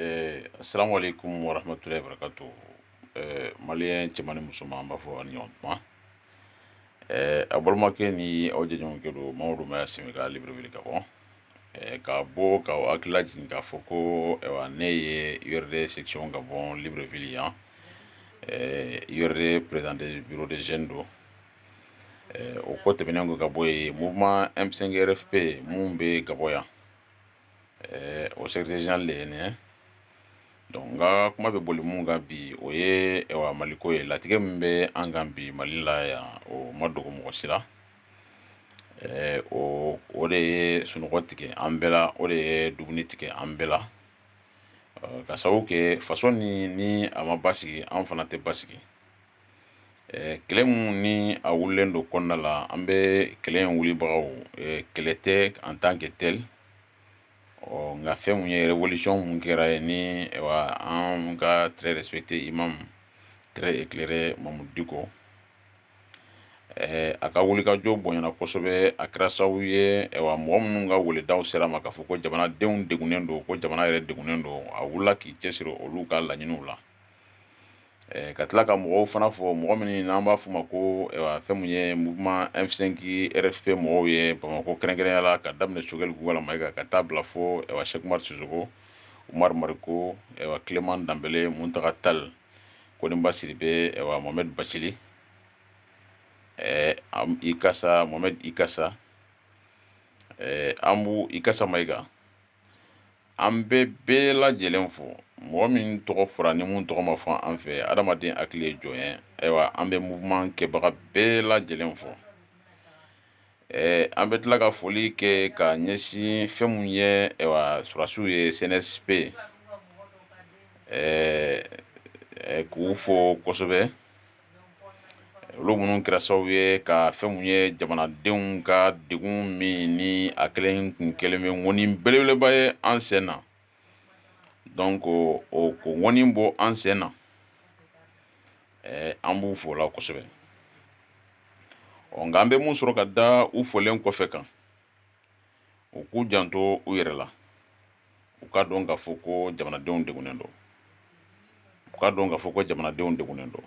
Ɛɛ samolen kun warafintura yɛrɛ ka to mali cɛman ni musoman an b'a fɔ ani ɲɔgɔn kuma ɛɛ a balimakɛ ni aw de ɲɔgɔn kelen don mɔgɔw bɛ sen ka bri wuli ka bɔ ka bɔ ka hakili jigin k'a fɔ ko ne ye yɛrɛ sec ka bɔ bri yan yɛrɛ pdte bid z don o ko tɛmɛnen ka bɔ yen mun bɛ yɛrɛ fɛ yen minnu bɛ ka bɔ yan ɛɛ o secrétaire général de ye nin ye donc n ka kuma bɛ boli mun kan bi o ye ɛwa maliko ye latigɛ min bɛ an kan bi mali la yan o ma dogo mɔgɔ si la ɛɛ o o de ye sunɔgɔ tigɛ an bɛɛ la o de ye dumuni tigɛ an bɛɛ la ka sababu kɛ faso ni ni a ma basigi an fana tɛ basigi kɛlɛ min ni a wulilen don kɔnɔna la an bɛ kɛlɛ in wulibagaw kɛlɛ tɛ en tant que tel ɔ nka fɛn min ye révolution min kɛra ye ni an ka très respecté imam très éclairé Mamudu Diko ɛɛ a ka wulikajɔ bonyana kosɛbɛ a kɛra sababu ye mɔgɔ minnu ka weledaw sera ma k'a fɔ ko jamanadenw degunnen don ko jamana yɛrɛ degunnen don a wulila k'i cɛ siri olu ka laɲiniw la ka tila ka mɔgɔw fana fɔ mɔgɔ min n'an b'a f' ma ko fɛn min ye muma efisenki p mɔgɔw ye bamakɔ kɛrɛnkɛya la ka daminɛ sokɛkali walima kan ka taa bila fɔ sekuri suko mariri ko tilema danb mu ta tali koɔniba siri bɛ mɔme basisiri i ka mɔ i ka an b' i ka ma i kan An bɛ bɛɛ lajɛlen fo mɔgɔ min tɔgɔ fɔra ni minnu tɔgɔ ma fɔ an fɛ adamaden hakili ye jɔn ye ayiwa an bɛ mouvement kɛbaga bɛɛ lajɛlen fo an bɛ tila ka foli kɛ ka ɲɛsin fɛn min ye sɔrɔdasiw ye CNSP k'u fo kosɛbɛ olu minnu kɛra sababu ye ka fɛn min ye jamanadenw ka degun min ni a kɛlen tun kɛlen bɛ ŋɔni belebeleba ye an sen na donc k'o ŋɔni bɔ an sen na an b'u fo la kosɛbɛ nka an bɛ min sɔrɔ ka da u folen kɔfɛ kan u k'u janto u yɛrɛ la u ka dɔn k'a fɔ ko jamanadenw degunnen don u ka dɔn k'a fɔ ko jamanadenw degunnen don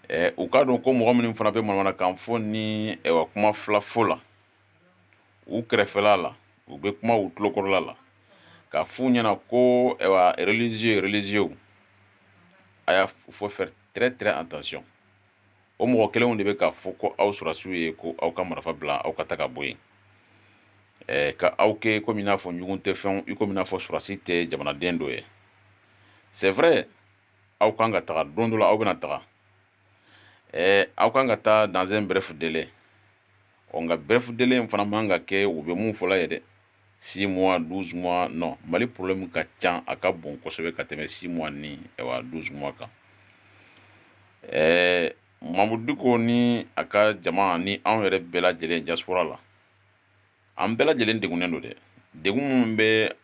ɛ u ka dɔn ko mɔgɔ minnu fana bɛ manamana kan fɔ ni kuma fila fɔ la u kɛrɛfɛla la u bɛ kuma u tulokɔrɔla la k'a f'u ɲɛna ko religieux religieux ayiwa il faut faire très très attention o mɔgɔ kelenw de bɛ k'a fɔ ko aw sɔrɔsiw ye ko aw ka marifa bila aw ka taga bɔ yen ɛɛ ka aw kɛ komi n'a fɔ ɲugun tɛ fɛnw i komi n'a fɔ sɔrɔsi tɛ jamanaden dɔ ye c'est vrai aw kan ka taga don dɔ la aw bɛna taga ɛɛ aw kan ka taa dans un bref délai ɔ nka bref délai in fana man ka kɛ u bɛ mun fɔla ye dɛ six mois douze mois non mali problème ka ca a ka bon kosɛbɛ ka tɛmɛ six mois ni douze mois kan ɛɛ mamudu diko ni a ka jama ni anw yɛrɛ bɛɛ lajɛlen diaspora la an bɛɛ lajɛlen degunnen don dɛ degun minnu bɛ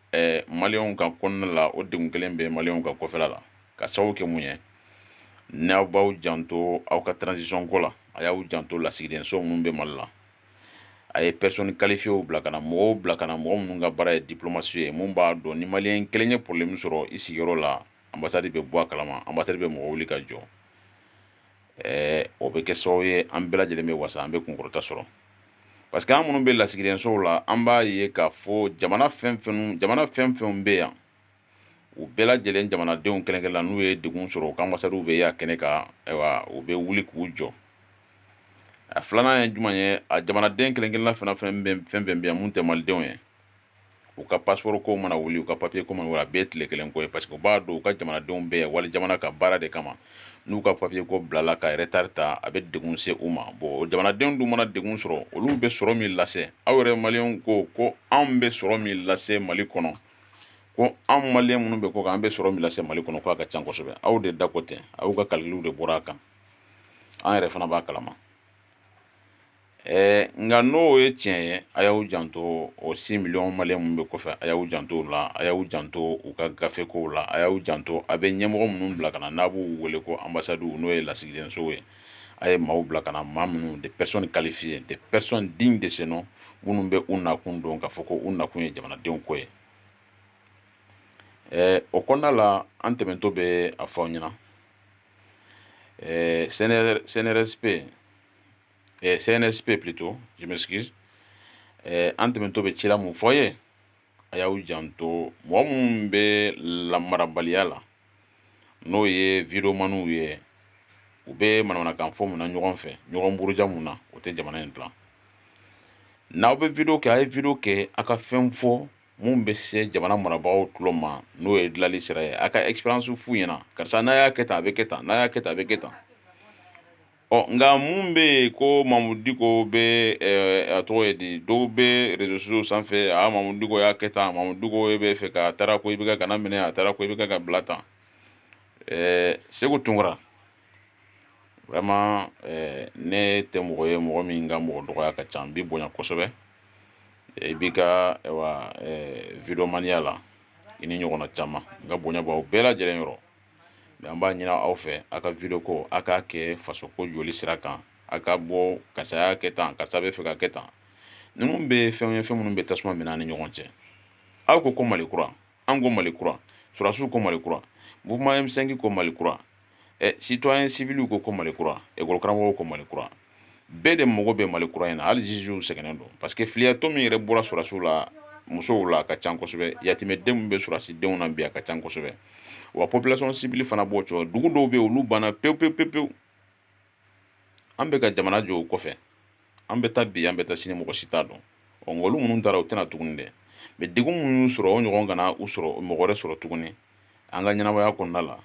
maliyɛnw kan kɔnɔna la o degun kelen bɛ maliyɛnw kan kɔfɛla la ka sababu kɛ mun ye n'aw b'aw janto aw ka transition ko la a y'aw janto lasigidenso minnu bɛ mali la a ye personne qualifiéew bila ka na mɔgɔw bila ka na mɔgɔ minnu ka baara ye diplomatie ye minnu b'a dɔn ni maliyɛn kelen ye problème sɔrɔ i sigiyɔrɔ la anbasadi bɛ bɔ a kalama anbasadi bɛ mɔgɔ wuli ka jɔ ɛɛ o bɛ kɛ sababu ye an bɛɛ lajɛlen bɛ wasa an bɛ kunkɔrɔta sɔrɔ parce que an minnu bɛ lasigidensow la an b'a ye k'a fɔ jamana fɛn fɛn jamana fɛn fɛn bɛ yan u bɛɛ lajɛlen jamanadenw kelen-kelenna n'u ye degun sɔrɔ u ka anbasadiw bɛ y'a kɛnɛ kan ayiwa u bɛ wuli k'u jɔ a filanan ye jumɛn ye a jamanaden kelen-kelenna fana fɛn fɛn bɛ yan mun tɛ malidenw ye u ka passeport ko mana wuli u ka papiye ko a bɛɛ ye tile kelen ko ye parce que u b'a dɔn u ka jamanadenw bɛ yan wali jamana ka baara de kama n'u ka papiye ko bilala ka retard ta a bɛ degun se u ma bon jamanadenw dun mana degun sɔrɔ olu bɛ sɔrɔ min lase aw yɛrɛ maliyɛnw ko ko anw bɛ sɔrɔ min lase mali kɔnɔ ko anw maliyɛn minnu bɛ kɔkan an bɛ sɔrɔ min lase mali kɔnɔ k'a ka ca kosɛbɛ aw de da ko tɛ aw ka calcul de bɔra a kan an yɛrɛ fana b'a kalama ɛɛ nka n'o ye tiɲɛ ye a y'aw janto o six millions maliyɛn minnu bɛ kɔfɛ a y'aw janto u la a y'aw janto u ka gafekow la a y'aw janto a bɛ ɲɛmɔgɔ minnu bila ka na n'a b'u wele ko anbasadi n'o ye lasigidensow ye a ye maaw bila ka na maa minnu des personnes qualifiées des personnes dignes de ce nom minnu bɛ u nakun dɔn k'a fɔ ko u nakun ye jamanadenw ko ye o kɔnɔna la an tɛmɛtɔ bɛ a fɔ aw ɲɛna cnrsp cnsp plutôt je m'excuse an tɛmɛtɔ bɛ cila min fɔ ye a y'aw janto mɔgɔ minnu bɛ lamarabaliya la n'o ye videomaniw ye u bɛ manamanakan fɔ mun na ɲɔgɔn fɛ ɲɔgɔn buruja mun na o tɛ jamana in dilan n'aw bɛ video kɛ a ye video kɛ a ka fɛn fɔ mun bɛ se jamana marabagaw tulo ma n'o ye dilanli sira ye a ka expérience f'u ɲɛna karisa n'a y'a kɛ tan a bɛ kɛ tan n'a y'a kɛ tan a bɛ kɛ tan Ɔ nka mun bɛ yen ko mamudu diko bɛ a tɔgɔ ye di dɔw bɛ réseaux sociaux sanfɛ a mamudu diko y'a kɛ tan mamudu diko e bɛ fɛ ka taara ko i bɛ kana minɛ a taara ko i bɛ ka bila tan ɛɛ seku tunkara vraiment ne tɛ mɔgɔ ye mɔgɔ min ka mɔgɔ dɔgɔya ka ca n b'i bonya kosɛbɛ i b'i ka videomaniya la i n'i ɲɔgɔnna caman n ka bonya b'aw bɛɛ lajɛlen yɔrɔ mais an b'a ɲinin aw fɛ aw ka video ko aw k'a kɛ faso ko jɔli sira kan a ka bɔ karisa y'a kɛ tan karisa bɛ fɛ ka kɛ tan ninnu bɛ fɛn ye fɛn minnu bɛ tasuma mɛnɛ an ni ɲɔgɔn cɛ aw ko ko mali kura an ko mali kura sɔrɔsiw ko mali kura mouvement M5 ko mali kura citoyen civilw ko ko mali kura ekɔlikaramɔgɔw ko mali kura bɛɛ de mago bɛ mali kura in na hali zuzuw sɛgɛnnen don parce que filiyatɔ min yɛrɛ bɔra sɔrɔsiw la musow la a ka ca kosɛbɛ yatimɛden min bɛ sɔrɔsidenw na bi a ka ca kosɛbɛ wa population civile fana b'o cogo dugu dɔw bɛ yen olu banna pewu pewu pewu pewu an bɛ ka jamana jɔ o kɔfɛ an bɛ taa bi an bɛ taa sini mɔgɔ si t'a dɔn ɔ nka olu minnu taara u tɛ na tuguni dɛ mais degun minnu y'u sɔrɔ o ɲɔgɔn kana u sɔrɔ mɔgɔ wɛrɛ sɔrɔ tuguni an ka ɲɛnamaya kɔnɔna la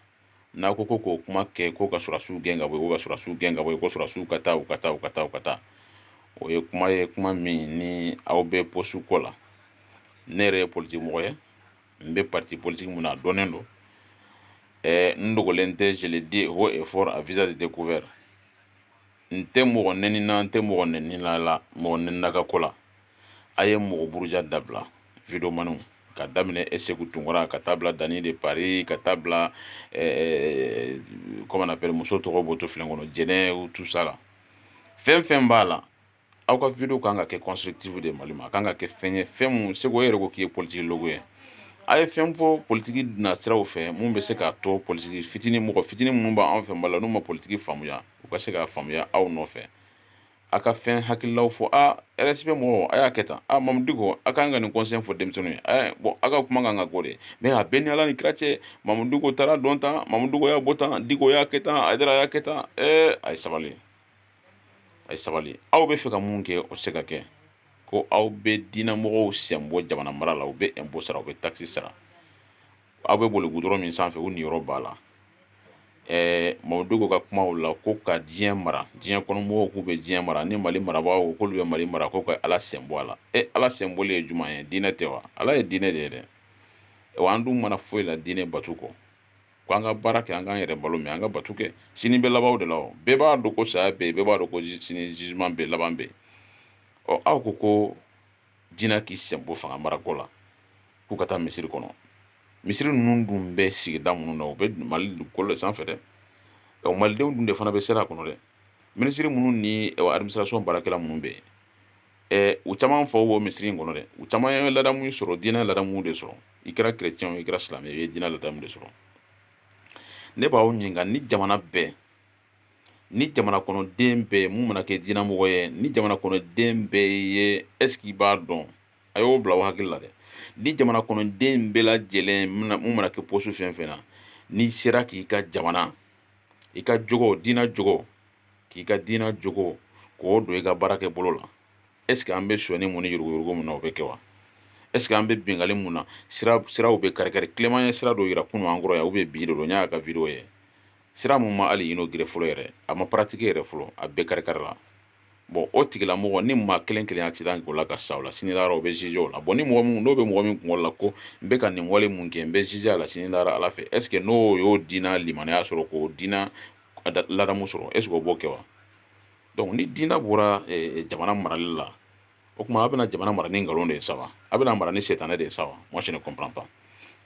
n'a ko ko k'o kuma kɛ ko ka sɔrɔsiw gɛn ka bɔ yen, ko ka sɔrɔsiw gɛn ka bɔ yen, ko sɔrɔsiw ka taa, u ka taa, u ka taa, u ka taa. O ye kuma ye kuma min ni aw bɛ poste ko la. Ne yɛrɛ ye politique mɔgɔ ye, n bɛ parti politique min na a dɔnnen don. Ɛɛ n dogolen tɛ, je le dis haut et fort à visage découvert. n tɛ mɔgɔ nɛni na n tɛ mɔgɔ nɛni la la mɔgɔ nɛnina ka ko la a ye mɔgɔ buruja dabila videomaniw ka daminɛ ɛ seku tunkara ka taa bila Dany de Paris ka taa bila comment on appelle muso tɔgɔ bɔ to filen kɔnɔ jɛnɛ tout ça la fɛn fɛn b'a la aw ka video kan ka kɛ constructive de mali ma a kan ka kɛ fɛn ye fɛn minnu seku e yɛrɛ ko k'i ye politicologue ye a ye fɛn fɔ politiki nasiraw fɛ mun bɛ se k'a to politiki fitinin mɔgɔ fitinin minnu b'an fɛ mali la n'u ma politiki faamuya u ka se k'a faamuya aw nɔfɛ a ka fɛn hakililaw fɔ a RFP mɔgɔw a y'a kɛ tan a mamudu diko a kan ka nin conseil fɔ denmisɛnninw ye bon a ka kuma kan ka k'o de mais a bɛ n ni ala ni kira cɛ mamudu diko taara don tan mamudu diko y'a bɔ tan diko y'a kɛ tan hayidara y'a kɛ tan a ye sabali a ye sabali aw bɛ fɛ ka mun kɛ o tɛ se ka kɛ ko aw bɛ diinɛ mɔgɔw sen bɔ jamana mara la u bɛ impôt sara u bɛ taxe sara aw bɛ boli goudron min sanfɛ u niyɔrɔ b'a la ɛɛ mamudu diko ka kumaw la ko ka diɲɛ mara diɲɛ kɔnɔ mɔgɔw k'u bɛ diɲɛ mara ni mali marabaaw k'olu bɛ mali mara k'u ka ala sen bɔ a la e ala sen bɔli ye jumɛn ye diinɛ tɛ wa ala ye diinɛ de ye dɛ wa an dun ma na foyi la diinɛ bato kɔ ko an ka baara kɛ an k'an yɛrɛ balo mais an ka bato kɛ sini bɛ laban de la bɛɛ b'a dɔn ko saya bɛ yen bɛɛ b'a dɔn ko sini jugement bɛ yen laban bɛ yen aw ko ko diinɛ k'i sen bɔ fanga marako la k'u ka taa misiri kɔnɔ misiri ninnu dun bɛ sigida minnu na u bɛ mali dugukolo de sanfɛ dɛ ɔ malidenw dun de fana bɛ seli a kɔnɔ dɛ minisiri minnu ni administration baarakɛla minnu bɛ yen ɛɛ u caman fa b'o misiri in kɔnɔ dɛ u caman ye ladamu sɔrɔ diinɛ ladamu de sɔrɔ i kɛra chrétien i kɛra silamɛ i ye diinɛ ladamu de sɔrɔ ne b'aw ɲininka ni jamana bɛɛ ni jamana kɔnɔden bɛɛ mun mana kɛ diinɛmɔgɔ ye ni jamana kɔnɔden bɛɛ ye est ce que i b'a dɔn a y'o bila aw hakili la dɛ ni jamana kɔnɔden bɛɛ lajɛlen mun mana kɛ poste fɛn fɛn na n'i sera k'i ka jamana i ka jogo diinɛ jogo k'i ka diinɛ jogo k'o don i ka baara kɛ bolo la est ce que an bɛ sonyani mun ni yuruguyurugu mun na o bɛ kɛ wa est ce que an bɛ bingali mun na sira siraw bɛ kari-kari clément ye sira dɔ yira kunun an kɔrɔ yan u bɛ bi de don n y'a ka video ye sira mun ma hali inauguré fɔlɔ yɛrɛ a ma pratiqué yɛrɛ fɔlɔ a bɛɛ karikarila bon o tigilamɔgɔ ni maa kelen kelen accident k'o la ka sa o la sini lahara o bɛ jugé o la bon ni mɔgɔ min n'o bɛ mɔgɔ min kungolo la ko n bɛ ka nin wale mun kɛ n bɛ jugé a la sini lahara ala fɛ est ce que n'o y'o dina limanaya sɔrɔ k'o dina ladamu sɔrɔ est ce que o b'o kɛ wa donc ni dina bɔra eh, jamana marali la o tuma a bɛna jamana mara ni nkalon de ye sa wa a bɛna mara ni setanɛ de ye sa wa moi je ne comprends pas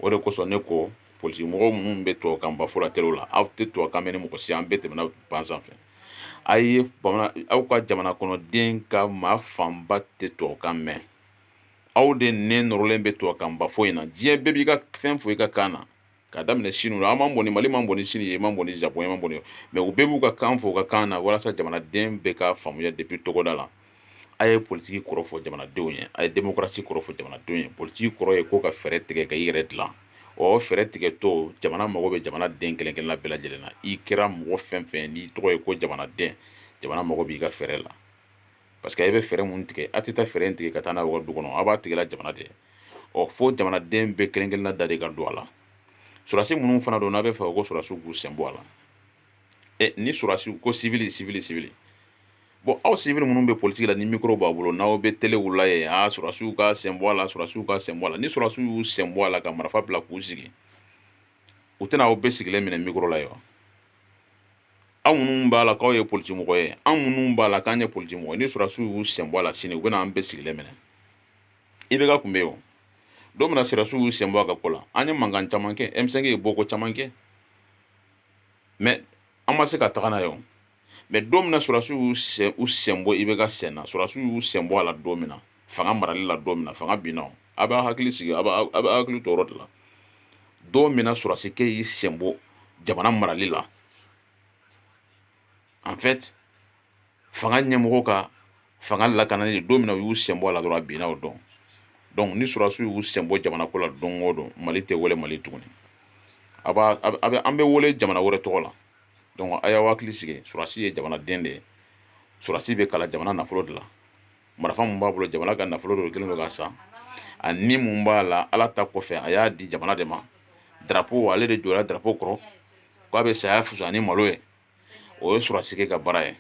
o de kosɔn ne ko politimɔgɔw minnu bɛ tubabu kan ba fɔ la telew la aw tɛ tubabu kan mɛn ni mɔgɔ si an bɛɛ tɛmɛna banc sanfɛ a ye bamanan aw ka jamana kɔnɔden ka maa fanba tɛ tubabu kan mɛn aw de nɛn nɔrɔlen bɛ tubabu kan ba fɔ in na diɲɛ bɛɛ b'i ka fɛn fɔ i ka kan na k'a daminɛ sini la an man bon ni mali man bon ni sini ye man bon ni japon man bon mais u bɛɛ b'u ka kan fɔ u ka kan na walasa jamanaden bɛɛ ka faamuya depuis togoda la a ye politigi kɔrɔ fɔ jamanadenw ye a ye démocratie kɔrɔ fɔ jamanadenw ye politigi kɔrɔ ye ko ka fɛɛrɛ tigɛ ka i yɛrɛ dilan o fɛɛrɛ tigɛtɔ jamana mago bɛ jamana den kelen-kelenna bɛɛ lajɛlen na i kɛra mɔgɔ fɛn fɛn n'i tɔgɔ ye ko jamanaden jamana mago b'i ka fɛɛrɛ la parce que a bɛ fɛɛrɛ mun tigɛ a tɛ taa fɛɛrɛ in tigɛ ka taa n'a ye du kɔnɔ a b'a tigɛla jamana de ɔ fo jamanaden bɛɛ kelen-kelenna da de ka don a la surasi minnu fana don n'a b'a fɛ ko surasiw k'u sen bɔ a la ɛ ni surasiw ko civil civil civil bon aw civil minnu bɛ politigi la ni mikoro b'a bolo n'aw bɛ telew la ye a surasiw ka sen bɔ a la surasiw ka sen bɔ a la ni surasiw y'u sen bɔ a la ka marifa bila k'u sigi u tɛna aw bɛɛ sigilen minɛ mikoro la ye wa aw minnu b'a la k'aw ye politimɔgɔ ye an minnu b'a la k'an ye politimɔgɔ ye ni sɔrɔdasiw y'u sen bɔ a la sini u bɛna an bɛɛ sigilen minɛ IBK kun bɛ yen o don min na sɔrɔdasiw y'u sen bɔ a ka ko la an ye mankan caman kɛ M5 ye bɔko caman kɛ mais an ma se ka taga n'a ye o mais don min na sɔrɔdasiw y'u sen u sen bɔ IBK sen na sɔrɔdasiw y'u sen bɔ a la don min na fanga marali la don min na fanga binna a b'a hakili sigi a b'a hakili to o yɔrɔ de la don min na sɔrɔdasikɛ y'i senbɔ jamana marali la en fait fanga ɲɛmɔgɔ ka fanga lakanali don min na u y'u senbɔ a la dɔrɔn a binna o don donc ni sɔrɔdasiw y'u senbɔ jamana ko la don o don mali tɛ wele mali tuguni a b'a a bɛ an bɛ wele jamana wɛrɛ tɔgɔ la donc a y'aw hakili sigi sɔrɔdasi ye jamanaden de ye sɔrɔdasi bɛ kalan jamana nafolo de la marifa min b'a bolo jamana ka nafolo dɔ kɛlen don k'a san a ni mun b'a la ala ta kɔfɛ a y'a di jamana de ma darapo ale de jɔra darapo kɔrɔ k'a bɛ saya fusa ni malo ye o ye sɔrɔsikɛ ka baara ye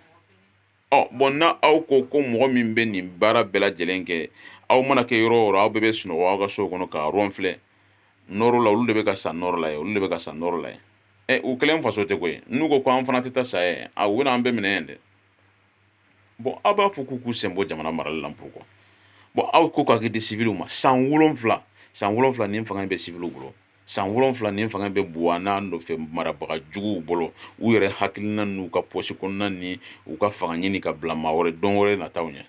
ɔ bɔn na aw ko ko mɔgɔ min bɛ nin baara bɛɛ lajɛlen kɛ aw mana kɛ yɔrɔ o yɔrɔ aw bɛɛ bɛ sunɔgɔ aw ka sow kɔnɔ ka ronfler nɔrɔ la olu de bɛ ka sa nɔrɔ la ye olu de bɛ ka sa nɔrɔ la ye ɛ u kelen faso tɛ koyi n'u ko ko an fana tɛ taa sa ye a u bɛna an bɛɛ minɛ yan dɛ bɔn aw b'a fɔ k'u k'u senbɔ jamana marali la pourquoi bɔn aw ko k'a kɛ di siviliw ma san wolonwula san wolonwula ni fanga bɛ siviliw bolo san wolonwula ni fanga bɛ buwa n'a nɔfɛ marabaga juguw bolo u yɛrɛ hakilina n'u ka pɔsi kɔnɔna ni u ka fanga ɲini ka bila maa wɛrɛ dɔ wɛrɛ nata ɲɛ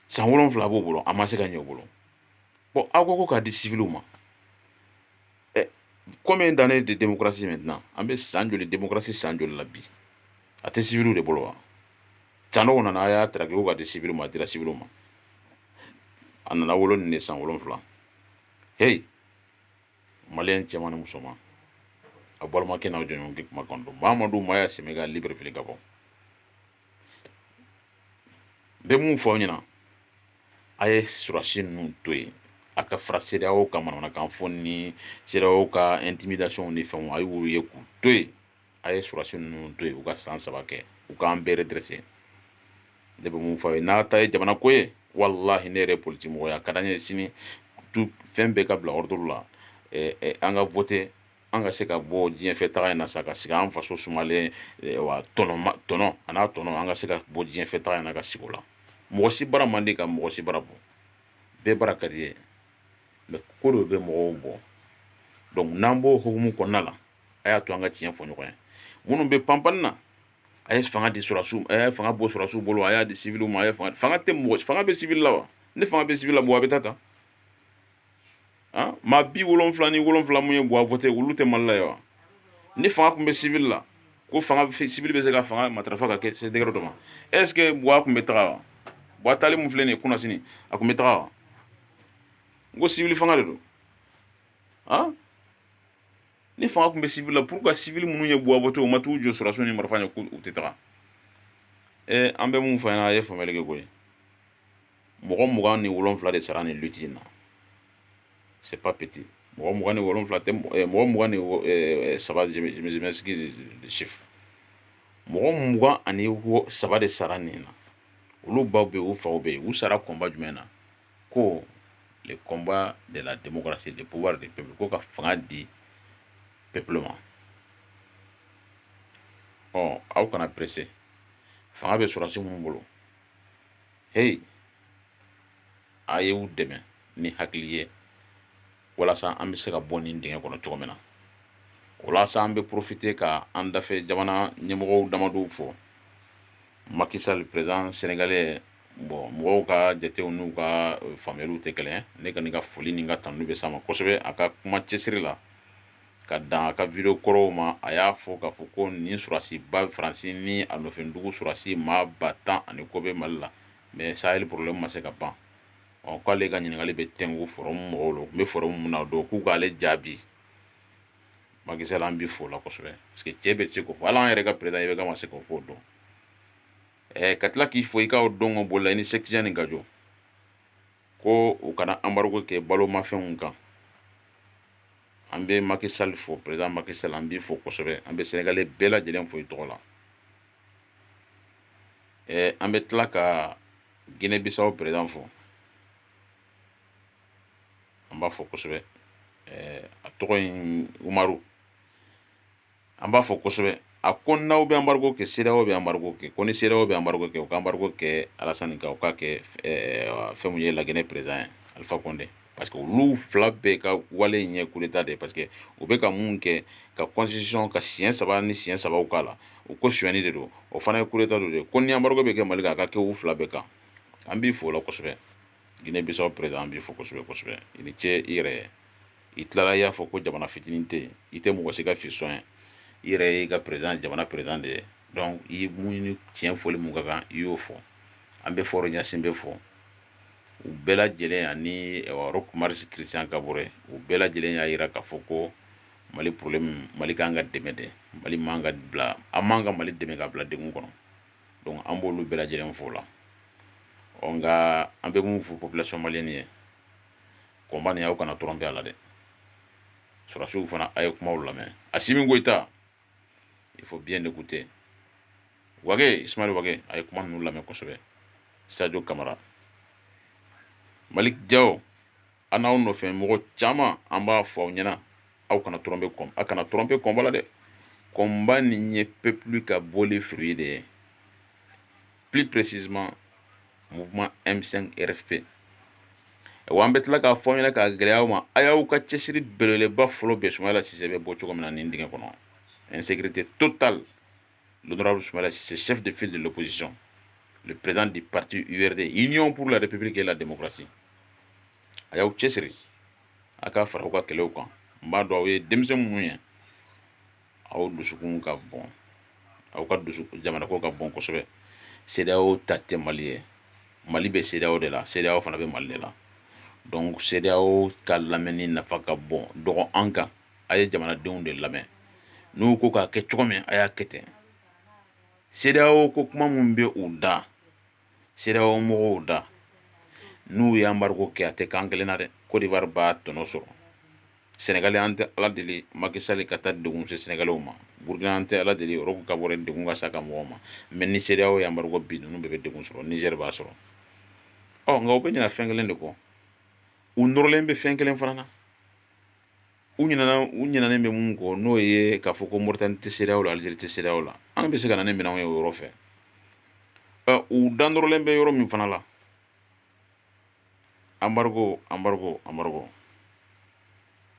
san wolonwula b'u bolo a ma se ka ɲɛ u bolo bɔn aw ko ko k'a di siviliw ma combien d'années de démocratie maintenant an bɛ san joli démocratie san joli la bi a tɛ siviliw de bolo wa sanɔgɔ nana a y'a traquer ko k'a di siviliw ma a dira siviliw ma a nana wolo nin de san wolonfila heyi maliyɛn cɛman ni musoman a balimakɛ n'aw jɔɲɔgɔnkɛ kumakan don mamadu maya sɛmɛga libreville gabon n bɛ mun fɔ aw ɲɛna a ye surasi ninnu to yen a ka fara cedeao ka manamanakan fɔ ni cedeao ka intimidation ni fɛnw a y'olu ye k'u to yen a ye surasi ninnu to yen u ka san saba kɛ u k'an bɛɛ redresse ne bɛ mun fɔ a ye n'a ta ye jamana ko ye walahi ne yɛrɛ politi mɔgɔ ye a ka d'an ye sini tu fɛn bɛɛ ka bila ordre la eh, eh, an ka vote an ka se ka bɔ diɲɛfɛ taga in na sa ka sigi an faso sumalen eh, wa tɔnɔ tɔnɔ a n'a tɔnɔ an ka se ka bɔ diɲɛfɛ taga in na ka sigi o la mɔgɔ si bara man di ka mɔgɔ si bara bɔ bɛɛ bara ka d'i ye mais ko dɔ bɛ mɔgɔw bɔ donc n'an b'o hukumu kɔnɔna la a y'a to an ka tiɲɛ fɔ ɲɔgɔn ye minnu bɛ panpan na a ye fanga di sɔrɔsiw a ye fanga bɔ sɔrɔsiw bolo a y'a di siviliw ma a ye fanga fanga tɛ mɔgɔ fanga bɛ sivili la wa ni fanga bɛ sivili la mɔgɔ a bɛ taa ta ah maa bi wolonfila ni wolonfila mun ye buwa vote olu tɛ mali la ye wa ni fanga tun bɛ sivili la ko fanga sivili bɛ se ka fanga matarafa ka kɛ se degré dɔ ma est ce que buwa tun bɛ taga wa buwa taali mun filɛ nin ye kunasini a tun bɛ taga wa n ko sivili fanga de don ah ni fanga tun bɛ civil la pourquoi civil minnu ye buwa voter u ma t'u jɔ sɔrɔsiw ni marifa ɲɛ ko u tɛ taga ɛ an bɛ mun fɔ ɲɛna a ye faamuyali kɛ koyi mɔgɔ mugan ni wolonfila de sara nin lutte in na c'est pas petit mɔgɔ mugan ni wolonfila tɛ mɔgɔ mugan ni saba je m'excuse le chiffre mɔgɔ mugan ani saba de sara nin na olu baw bɛ yen u faw bɛ yen u sara combat jumɛn na ko le combat de la démocratie le pouvoir du peuple ko ka fanga di peuple ma ɔ aw kana pressé fanga bɛ sɔrɔsi minnu bolo hey a ye u dɛmɛ ni hakili ye walasa an bɛ se ka bɔ nin dingɛ kɔnɔ cogo min na walasa an bɛ profiter ka an dafɛ jamana ɲɛmɔgɔw damadɔw fo macky sall président sénégalais mɔgɔw ka jatew n'u ka faamuyaliw tɛ kelen ne kɔni ka foli ni ka tanu bɛ s'a ma kosɛbɛ a ka kuma cɛsiri la ka dan a ka vidéo kɔrɔw ma a y'a fɔ k'a fɔ ko nin sɔrɔsiba faransi ni a nɔfɛdugu sɔrɔsi maa ba tan ani kɔ bɛ mali la mais sahel problème ma se ka ban ɔ k'ale ka ɲininkali bɛ tɛnku forum mɔgɔw la u tun bɛ forum min na o don k'u k'ale jaabi macky sall an b'i fo la kosɛbɛ parce que cɛ bɛ se k'o fɔ hali an yɛrɛ ka président ibk ma se k'o fɔ o don ɛɛ ka tila k'i fo i ka o don ka bolo la i ni setiya nin ka jɔ ko u kana embargo kɛ balomafɛnw kan an bɛ macky sall fo président macky sall an b'i fo kosɛbɛ an bɛ sénégalais bɛɛ lajɛlen fo i tɔgɔ la ɛɛ an bɛ tila ka guinée bissau président fo an b'a fo kosɛbɛ ɛɛ a tɔgɔ in umaru an b'a fo kosɛbɛ a ko n'aw bɛ embargo kɛ cedeao bɛ embargo kɛ ko ni cedeao bɛ embargo kɛ u ka embargo kɛ alasan kan u k'a kɛ fɛn ye laginɛ président ye alpha condé parce que olu fila bɛɛ ka wale in ye coup d'état de parce que u bɛ ka mun kɛ ka constitution ka siɲɛ saba ni siɲɛ saba k'a la u ko sonni de don o fana ye coup d'état don de ko ni embargo bɛ kɛ mali kan a ka kɛ u fila bɛɛ kan an b'i fo la kosɛbɛ guinée bissau président an b'i fo kosɛbɛ kosɛbɛ i ni ce i yɛrɛ ye i tilala i y'a fɔ ko jamana fitinin tɛ i tɛ mɔgɔ si ka fiston ye i yɛrɛ y'i ka président jamana président de ye donc i mun tiɲɛ fɔli mun ka kan i y'o fɔ an bɛ faure gnassingbé fo u bɛɛ lajɛlen ani roch marc christian kaboré u bɛɛ lajɛlen y'a jira k'a fɔ ko mali problème mali kan ka dɛmɛ de mali man ka bila an man ka mali dɛmɛ k'a bila dɛgun kɔnɔ donc an b'olu bɛɛ lajɛlen fo la ɔ nka an bɛ mun fɔ population malienne ye combat nin aw kana tromper a la dɛ sɔrɔsiw fana a ye kumaw lamɛn Assimi Goïta il faut bien écouter Wagué Ismaël Wagué a ye kuma ninnu lamɛn kosɛbɛ Sadio Camara Malick Diaw a n'aw nɔfɛ mɔgɔ caman an b'a fɔ aw ɲɛna aw kana tromper kɔn a kana tromper combat la dɛ combat nin ye peuple ka bɔli fruit de ye plus précisément mouvement M5 RFP wa an bɛ tila k'a fɔ aw ɲɛna k'a gɛlɛya aw ma a y'aw ka cɛsiri belebeleba fɔlɔ bɛn Soumaïla Cissé bɛ bɔ cogo min na nin dingɛ kɔnɔ insécurité totale l'honorable Soumaïla Cissé chef de file de l'opposition le président du parti URD Union pour la République et la démocratie a y'aw cɛsiri a ka fara aw ka kɛlɛw kan n b'a dɔn aw ye denmisɛn minnu ye aw dusukun ka bon aw ka dusu jamana ko ka bon kosɛbɛ CEDEAO ta tɛ Mali ye Mali bɛ CEDEAO de la CEDEAO fana bɛ Mali de la donc CEDEAO ka lamɛnni nafa ka bon dɔgɔ an kan a ye jamanadenw de lamɛn n'u ko k'a kɛ cogo min a y'a kɛ ten CEDEAO ko kuma mun bɛ u da CEDEAO mɔgɔw da n'u ye embargo kɛ a tɛ k'an kelen na dɛ Côte d'Ivoire b'a tɔnɔ sɔrɔ Sénégal an tɛ ala deli Macky Sall ka taa degun se Sénégalais ma Burkina an tɛ ala deli Roch Kaboré degun ka s'a ka mɔgɔw ma mais ni CEDEAO ye embargo bin ninnu bɛɛ bɛ degun sɔrɔ Niger b'a sɔrɔ ɔ nka u bɛ ɲina fɛn kelen de kɔ u nɔrɔlen bɛ fɛn kelen fana na u ɲinɛna u ɲinɛnen bɛ mun kɔ n'o ye k'a fɔ ko Mauritanie tɛ CEDEAO la Algérie tɛ CEDEAO la an bɛ se ka na ni minɛnw ye o yɔrɔ fɛ ɔ u da nɔrɔlen bɛ yɔrɔ min fana la embargo embargo embargo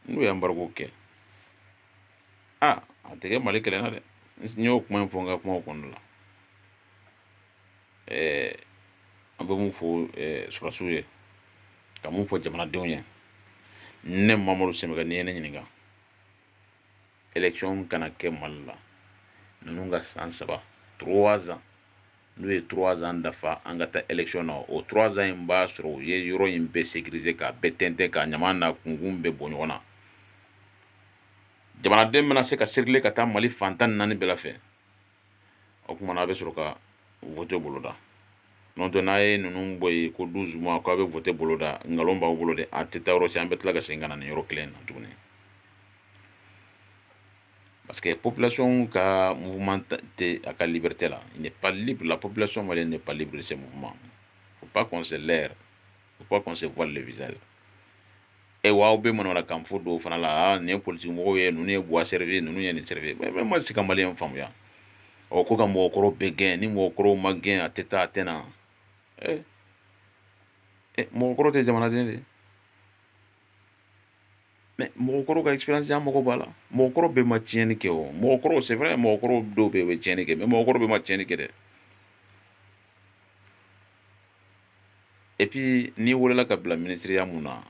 n'u ye embargo kɛ a a tɛ kɛ Mali kelen na dɛ n y'o kuma in fɔ n ka kumaw kɔnɔna la ɛɛ an bɛ mun fɔ ɛɛ sɔrɔsiw ye ka mun fɔ jamanadenw ye ne mamadu Séméga n'i ye ne ɲininka élection kana kɛ mali la ninnu ka san saba trois ans n'u ye trois ans dafa an ka taa élection na o trois ans in b'a sɔrɔ u ye yɔrɔ in bɛɛ sécuriser k'a bɛɛ tɛntɛn k'a ɲama n'a kunkun bɛɛ bɔ ɲɔgɔn na jamanaden bɛna se ka circuler ka taa mali fan tan ni naani bɛɛ la fɛ o tumaumana a bɛ sɔrɔ ka fɔte boloda n' dɔn n'a ye ninnu bɔ yen ko don zuma k'a bɛ fɔte boloda nkalon b'a bolo de a tɛ taa yɔrɔ si an bɛ tila ka segin ka na ni yɔrɔ kelen na tuguni parce que pplasiw ka mun tɛ a ka libte la nin pali bila plasi ma nin pali bilisi se ma u ba kɔnse u ba kɔnse vlɛlɛd e w'aw bɛ manamana kan fɔ dɔw fana la nin ye politigimɔgɔ ye ninnu ye Boua servir ninnu ye nin servir ma se ka maliyɛn faamuya ɔ ko ka mɔgɔkɔrɔw bɛɛ gɛn ni mɔgɔkɔrɔw ma gɛn a tɛ taa a tɛ na mɔgɔkɔrɔ tɛ jamanaden de mais mɔgɔkɔrɔ ka expérience an mago b'a la mɔgɔkɔrɔ bɛɛ ma tiɲɛni kɛ o mɔgɔkɔrɔ c'est vrai mɔgɔkɔrɔ dɔw bɛ yen u bɛ tiɲɛni kɛ mais mɔgɔkɔrɔ bɛɛ ma tiɲɛni kɛ dɛ et puis n'i weelela ka bila minisiriya mun na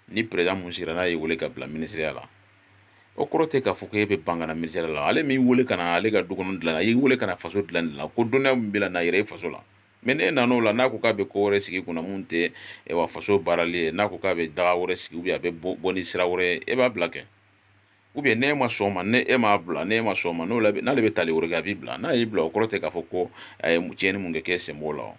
ni président mun sigira n'a y'i weele ka bila minisiriya la o kɔrɔ tɛ k'a fɔ ko e bɛ ban ka na minisiriya la ale m'i weele ka na ale ka du kɔnɔ dilan a y'i weele ka na faso dilan dilan ko dɔnniya min b'i la n'a yira i faso la mais n'e nan'o la n'a ko k'a bɛ ko wɛrɛ sigi kunna mun tɛ wa faso baarali ye n'a ko k'a bɛ daga wɛrɛ sigi a bɛ bɔ ni sira wɛrɛ ye e b'a bila kɛ ou bien n'e ma sɔn ma n'e m'a bila n'e ma sɔn ma n'o n'ale bɛ tali wɛrɛ kɛ a b'i bila n'a y'i bila o kɔrɔ tɛ k'a fɔ ko a ye tiɲɛni mun kɛ k'e sen b'o la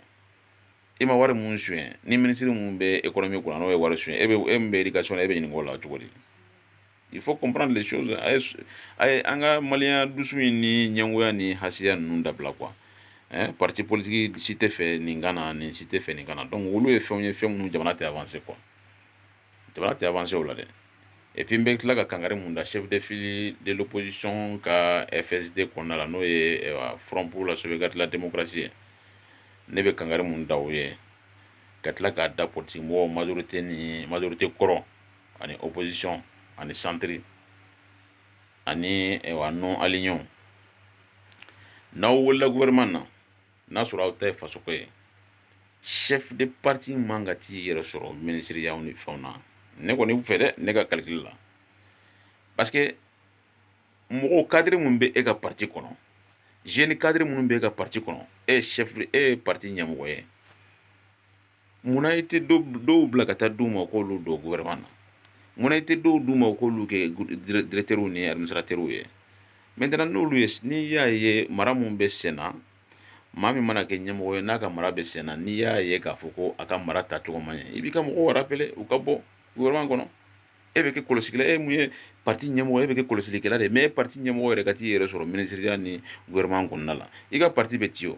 e ma wari mun suɲɛ ni minisiri mun bɛ économie kunna n'o ye wari suɲɛ e bɛ e min bɛ éducation la e bɛ ɲininka o la cogo di il faut comprendre les choses a ye a ye an ka maliyɛnya dusu in ni ɲɛngoya ni hasiya ninnu dabila quoi hein parti politique si tɛ fɛ nin ka na nin si tɛ fɛ nin ka na donc olu ye fɛnw ye fɛn minnu jamana tɛ avancer quoi jamana tɛ avancer o la dɛ et puis n bɛ tila ka kangari mun da chef de file de l'opposition ka FSD kɔnɔna la n'o ye eh, Front pour la sauvegarde de la démocratie ye ne bɛ kangari mun da o ye ka tila k'a da politique mɔgɔw majorité ni majorité kɔrɔ ani opposition ani centre ani eh, wa non alignés n'aw weelela gouvernement na n'a sɔrɔ aw ta ye faso ko ye chef de parti man ka t'i yɛrɛ sɔrɔ minisiriyaw ni fɛnw na ne kɔni fɛ dɛ ne ka calcul la parce que mɔgɔw cadre minnu bɛ e ka parti kɔnɔ jeune cadre minnu bɛ e ka parti kɔnɔ e ye chef e ye parti ɲɛmɔgɔ ye Munna i tɛ dɔw bila ka taa di u ma k' olu don gouvernement na munna i tɛ dɔw d' u ma k'olu kɛ directeurs ni administrateurs ye maintenant n'olu ye n'i y'a ye mara mun bɛ sen na maa min mana kɛ ɲɛmɔgɔ ye n'a ka mara bɛ sen na n'i y'a ye k'a fɔ ko a ka mara tacogo man ɲɛ i b'i ka mɔgɔw rappeler u ka bɔ gouvernement kɔnɔ e bɛ kɛ kɔlɔsi e mun ye parti ɲɛmɔgɔ e bɛ kɛ kɔlɔsilikɛla de mais e parti ɲɛmɔgɔ yɛrɛ ka t'i yɛrɛ sɔrɔ minisiriya ni gouvernement kɔnɔna la i ka parti bɛ ci o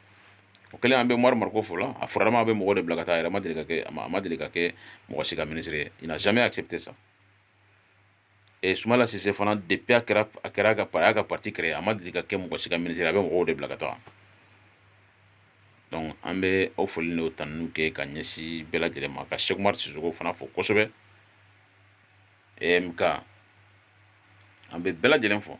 o kɛlen an bɛ Oumar Mariko fo la a fɔrama a bɛ mɔgɔ de bila ka taa a yɛrɛ ma deli ka kɛ a ma deli ka kɛ mɔgɔ si ka minisiri ye il n'a jamais accepté ça et Soumaïla Cissé fana depuis a kɛra a kɛra ka a y'a ka parti créer a ma deli ka kɛ mɔgɔ si ka minisiri a bɛ mɔgɔw de bila ka taa donc an bɛ aw foli n'o tanuniw kɛ ka ɲɛsin bɛɛ lajɛlen ma ka Cheick Oumar Sissoko fana fo kosɛbɛ EMK an bɛ bɛɛ lajɛlen fo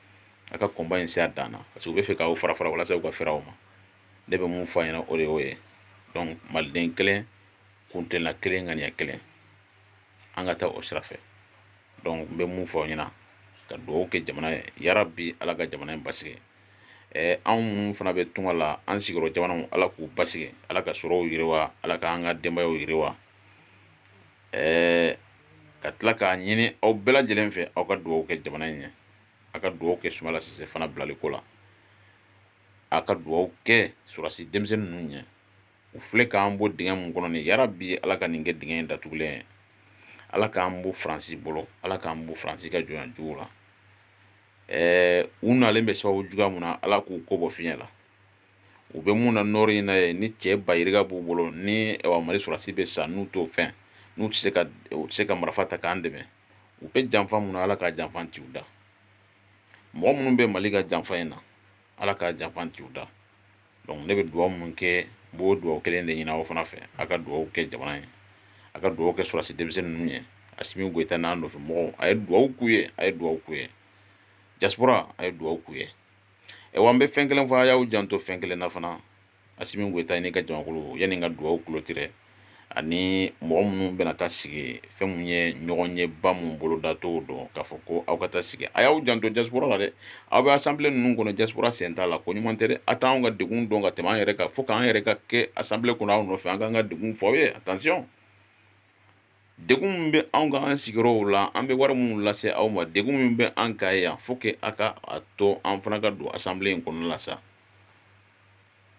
a ka combat in se a dan na parce que u bɛ fɛ k'aw fara fara walasa u ka fɛɛrɛ aw ma ne bɛ mun fɔ a ɲɛna o de y'o ye donc maliden kelen kuntilenna kelen ŋaniya kelen an ka taa o sira fɛ donc n bɛ mun fɔ aw ɲɛna ka dugawu kɛ jamana ye yarabi ala ka jamana in basigi ɛɛ anw minnu fana bɛ tunga la an sigiyɔrɔ jamanaw ala k'u basigi ala ka sɔrɔw yiriwa ala ka an ka denbayaw yiriwa ɛɛ ka tila k'a ɲini aw bɛɛ lajɛlen fɛ aw ka dugawu kɛ jamana in ɲɛ a ka dugawu kɛ sumala sise fana bilali ko la a ka dugawu kɛ sɔrɔdasi denmisɛnnin ninnu ɲɛ u filɛ k'an bɔ dingɛ mun kɔnɔ nin yarabi ala ka nin kɛ dingɛ in datugulen ye ala k'an bɔ faransi bolo ala k'an bɔ faransi ka jɔnya jugu la ɛɛ u nalen bɛ sababu juguya mun na ala k'u ko bɔ fiɲɛ la u bɛ mun na nɔri in na ye ni cɛ bayirika b'u bolo ni mali sɔrɔdasi bɛ sa n'u t'o fɛn n'u tɛ se ka u tɛ se ka marifa ta k'an dɛmɛ u bɛ janfa mun na ala ka janfa ci u da mɔgɔ minnu bɛ mali ka janfa in na ala ka janfa ci u da donc ne bɛ dugawu min kɛ n b'o dugawu kelen de ɲini aw fana fɛ a ka dugawu kɛ jamana ye a ka dugawu kɛ sɔrɔdasi denmisɛnnin ninnu ye asimi goyita n'a nɔfɛ mɔgɔw a ye dugawu k'u ye a ye dugawu k'u ye diaspora a ye dugawu k'u ye awa n bɛ fɛn kelen fɔ a y'aw janto fɛn kelen na fana asimi goyita n'i ka jamakulu yanni n ka dugawu clôturer ani mɔgɔ minnu bɛna taa sigi fɛn mun ye ɲɔgɔnyeba mun bolodatɔ don k'a fɔ ko aw ka taa sigi a y'aw janto diaspora la dɛ aw bɛ assemblée ninnu kɔnɔ diaspora sen t'a la ko ɲuman tɛ a t'an ka degun dɔn ka tɛmɛ an yɛrɛ kan fo k'an yɛrɛ ka kɛ assemblée kɔnɔ aw nɔfɛ an k'an ka degun fɔ aw ye attention degun min bɛ anw kan an sigiyɔrɔw la an bɛ wari minnu lase aw ma degun min bɛ an kan yan faut que aw ka a to an fana ka don assemblée in kɔnɔna la sa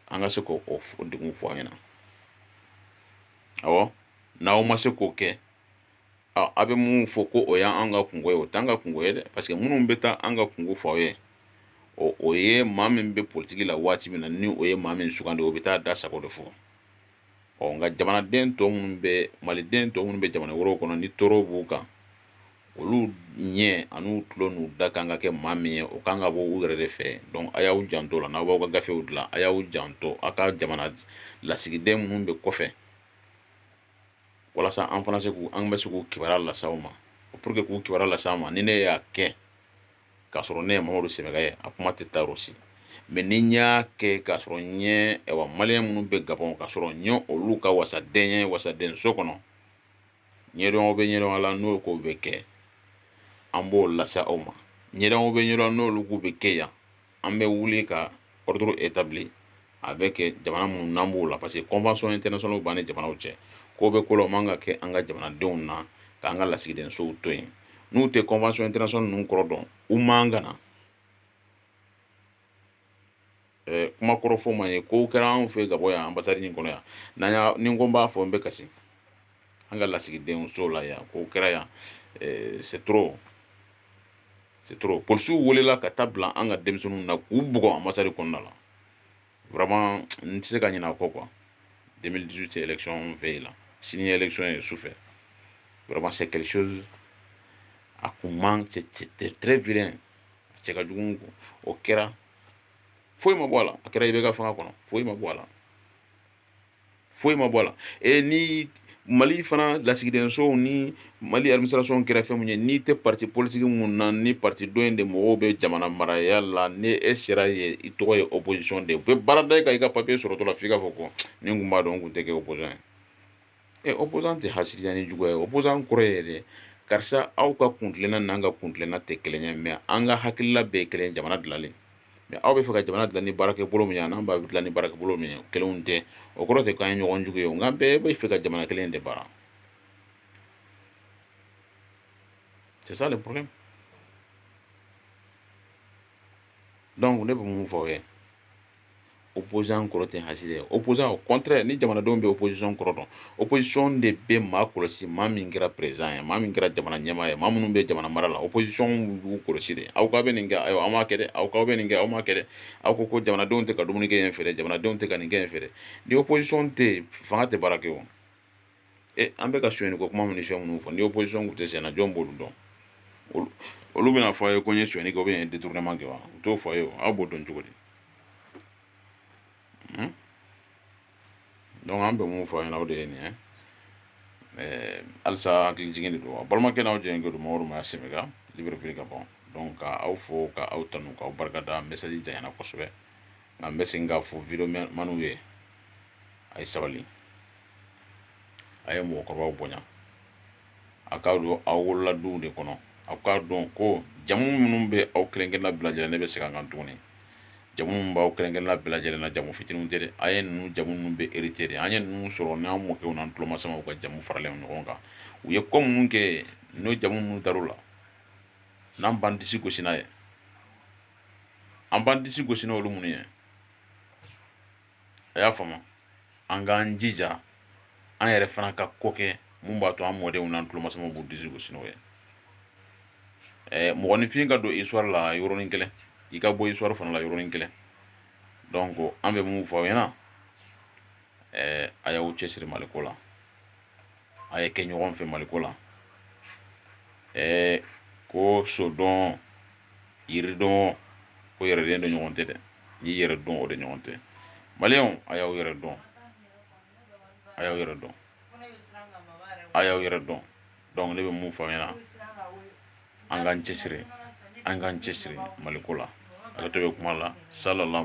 an ka se k'o degun fɔ aw ɲɛna awɔ n'aw ma se k'o kɛ a bɛ mun fɔ ko o y'an ka kungo ye o t'an ka kungo ye dɛ parce que minnu bɛ taa an ka kungo fɔ aw ye ɔ o ye maa min bɛ politiki la waati min na ni o ye maa min sugandi o bɛ taa da sago de fɔ ɔ nka jamanaden tɔ minnu bɛ maliden tɔ minnu bɛ jamana wɛrɛw kɔnɔ ni tɔɔrɔ b'u kan olu ɲɛ ani u tulo n'u da kan ka kɛ maa min ye o kan ka bɔ u yɛrɛ de fɛ donc a y'aw janto la n'aw b'aw ka gafew dilan a y'aw janto a ka jamana lasigiden minnu bɛ kɔfɛ walasa an fana se k'u an bɛ se k'u kibaruya lase aw ma pour que k'u kibaruya lase aw ma ni ne y'a kɛ k'a sɔrɔ ne ye mamadu semega ye a kuma tɛ taa yɔrɔ si mais ni n y'a kɛ k'a sɔrɔ n ye awa maliyɛn minnu bɛ gabɔn k'a sɔrɔ n ye olu ka wasaden ye wasadenso kɔnɔ ɲɛdɔn bɛ ɲɛdɔn la n'o ko bɛ kɛ an b'o lase aw ma ɲɛdɔnw bɛ ɲɛdɔn n'olu bɛ kɛ yan an bɛ wuli ka ordre établi avec jamana minnu n'an b'o la parce que convention internationale b'an ni jamanaw cɛ ko bɛ ko la o man ka kɛ an ka jamanadenw na k'an ka lasigidensow to yen n'u tɛ convention internationale ninnu kɔrɔ dɔn u man ka na ɛɛ kuma kɔrɔ fɔ man ye kow kɛra anw fɛ Gabɔn yan ambassade nin kɔnɔ yan n'an y'a ni n ko n b'a fɔ n bɛ kasi an ka lasigidenso la yan kow kɛra yan c'est trop C'est trop. Polisiw welela ka taa bila an ka denmisɛnninw na k'u bugɔ ambassade kɔnɔna la. Vraiment n tɛ se ka ɲinɛ a kɔ quoi. 2018 élection veille la. Sini ye élection ye sufɛ. Vraiment c'est quelque chose a kun man c'est très vilain. A cɛ ka jugu o kɛra foyi ma bɔ a la. A kɛra IBK fanga kɔnɔ foyi ma bɔ a la. foyi ma bɔ a la e ni mali fana lasigidensow ni mali administration kɛra fɛn min ye n'i tɛ parti politique min na ni parti dɔ in de mɔgɔw bɛ jamana maraya la ni e sera yen i tɔgɔ ye opposition de u bɛ baara da i kan i ka papier sɔrɔtɔ la f' i k'a fɔ ko ni n kun b'a dɔn n kun tɛ kɛ opposant ye ɛ opposant tɛ hasidiya ni juguya ye opposant kɔrɔ ye yɛrɛ karisa aw ka kuntilenna n'an ka kuntilenna tɛ kelen ye mais an ka hakilila bɛɛ kelen jamana dilanlen mais aw bɛ fɛ ka jamana dilan ni baarakɛbolo min ye n'an b'a dilan ni baarakɛbolo min ye kelen tɛ o kɔrɔ tɛ k'an ye ɲɔgɔn jugu ye nka bɛɛ bɛ fɛ ka jamana kelen de baara c'est ça le problème donc ne bɛ mun fɔ aw ye opposant kɔrɔ tɛ hasidi ye opposant au contraire ni jamanadenw bɛ opposition kɔrɔ dɔn opposition de bɛ maa kɔlɔsi maa min kɛra président ye maa min kɛra jamana ɲɛmaa ye maa minnu bɛ jamana mara la opposition b'u kɔlɔsi de aw k'aw bɛ nin kɛ aw aw m'a kɛ dɛ aw k'aw bɛ nin kɛ aw m'a kɛ dɛ aw ko ko jamanadenw tɛ ka dumuni kɛ yen fɛ dɛ jamanadenw tɛ ka nin kɛ yen fɛ dɛ ni opposition tɛ fanga tɛ baara kɛ o e an bɛ ka sonyani ko kuma minnu fɛn minnu fɔ ni opposition kun tɛ sen na jɔn b'olu dɔn olu bɛna fɔ a ye ko n ye sonyani kɛ ou bien n ye détournement kɛ wa u t'o fɔ a ye o aw b'o dɔn cogo di donc an bɛ mun fɔ a ɲɛna o de ye nin ye ɛɛ halisa hakili jigin de don a balimakɛ n'aw jɛɲɔgɔn don Mamadu Maya Sɛbɛka Libreville Gabɔn donc ka aw fo ka aw tanu k'aw barika da message janyana kosɛbɛ nka n bɛ segin k'a fɔ video maniw ye a ye sabali a ye mɔgɔkɔrɔbaw bonya a k'a dɔn aw wolola du de kɔnɔ a k'a dɔn ko jamu minnu bɛ aw kelen-kelenna bɛɛ lajɛlen ne bɛ segin a kan tuguni jamu minnu b'aw kelen-kelenna bɛɛ lajɛlen na jamu fitinin tɛ dɛ an ye ninnu jamu ninnu bɛɛ hérité de an ye ninnu sɔrɔ n'an mɔkɛw n'an tulomasamaw ka jamu faralen ɲɔgɔn kan u ye ko minnu kɛ n'o jamu minnu dara u la n'an b'an disi gosi n'a ye an b'an disi gosi n'olu minnu ye a y'a faamu an k'an jija an yɛrɛ fana ka ko kɛ mun b'a to an mɔdenw n'an tulomasamaw b'u disi gosi n'o ye mɔgɔninfin ka don histoire la yɔrɔnin kelen i ka bɔ histoire fana la yɔrɔnin kelen donc an bɛ mun fɔ aw ɲɛna a y'aw cɛsiri Maliko la a ye kɛ ɲɔgɔn fɛ maliko la ɛɛ ko sodɔn yiridɔn ko yɛrɛdɔn de ɲɔgɔn tɛ dɛ n'i yɛrɛ dɔn o de ɲɔgɔn tɛ maliyɛnw a y'aw yɛrɛ dɔn a y'aw yɛrɛ dɔn a y'aw yɛrɛ dɔn donc ne bɛ mun fɔ aw ɲɛna an k'an cɛsiri an k'an cɛsiri maliko la ale to bɛ kuma la salala